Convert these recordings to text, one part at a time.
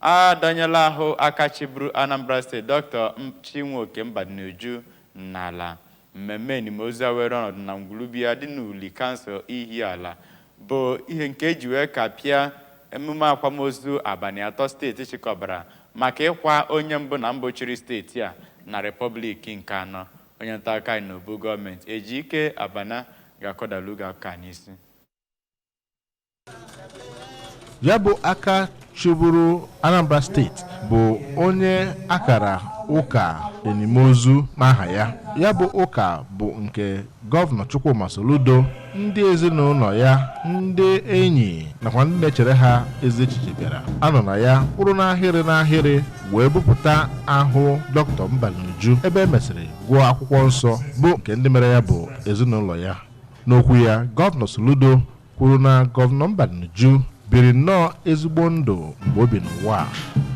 A dọnyela ahụ aka chịburu Anambra steeti Dọkịta Chinweoke Mbadinuju n'ala. Mmemme enimozu a weere ọnọdụ na ngwulu be ya dị n'Uli kansụl Ihiala bụ ihe nke e ji wee kapịa emume akwamozu abalị atọ steeti chịkọbara maka ịkwa onye mbụ na mbụ chịrị steeti a na Repọblik nke anọ. Onye ntaakụkọ anyị n'Obu gọọmenti, Ejike Abana ga-akọdalu gị akụkọ a n'isi. ya bụ aka chịburu anambra steeti bụ onye a kara ụka enimozu n'aha ya ya bụ ụka bụ nke gọvanọ chukwuma soludo ndị ezinụlọ ya ndị enyi nakwa ndị na-echere ha ezi echiche bịara anọ na ya kwụrụ n'ahịrị n'ahịrị wee bupụta ahụ dọkịta mbadinuju ebe e mesịrị gụọ akwụkwọ nsọ bụ nke ndị mere ya bụ ezinụlọ ya N'okwu ya, Gọvanọ Soludo kwuru na Gọvanọ Mbadinuju biri nnọọ ezigbo ndụ mgbe o bi n'ụwa a,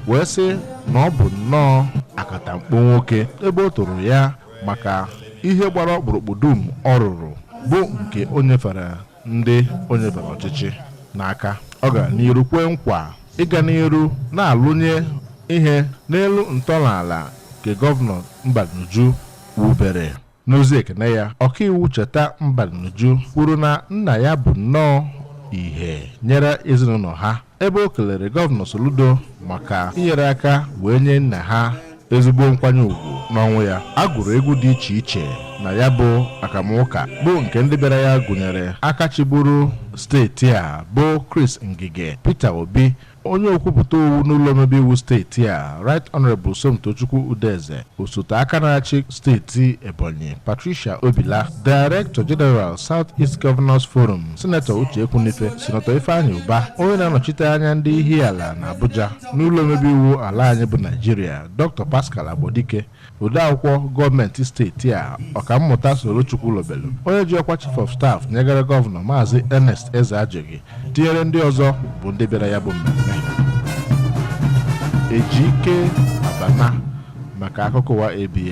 wee sị na ọ bụ nnọọ akatamkpo nwoke ebe o toro ya maka ihe gbara ọkpụrụkpụ dum ọ rụrụ bụ nke o nyefere ndị o nyefere ọchịchị n'aka. Ọ gara n'iru kwee nkwa ịga n'iru na-alụnye ihe n'elu ntọala nke Gọvanọ Mbadinuju wubere. N'ozi ekene ya, ọkaiwu Cheta Mbadinuju kwuru na nna ya bụ nnọọ ihe nyere ezinụlọ ha ebe o kelere gọvanọ Soludo maka inyere aka wee nye nna ha ezigbo nkwanye ugwu n'ọnwụ ya. A gụrụ egwu dị iche iche na ya bụ akamụka bụ nke ndị bịara ya gụnyere aka chịburu steeti a bụ Chris Ngige Peter Obi Onye okwupụta owu n'ụlọ omebe iwu steeti a, Right Honourable Somtochukwu Udeze, osote aka na-achị steeti Ebonyi, Patricia Obila, Director General South East Governors Forum, Sinetọ Uche Ekwunife, Sinetọ Ifeanyi Ubah, onye na-anọchite anya ndị Ihiala na Abuja n'ụlọ omebe iwu ala anyị bụ Naijiria, Dr. Pascal Agbodike, Odeakwụkwọ gọọmenti steeti a, Ọkammụta Solo Chukwulobelu, onye ji ọkwa Chief of Staff nyegara gọvanọ Maazị Ernest Ezeajughi, tinyere ndị ọzọ bụ ndị bịara ya bụ mmemme. Ejike Abana maka akụkọ ụwa ABS.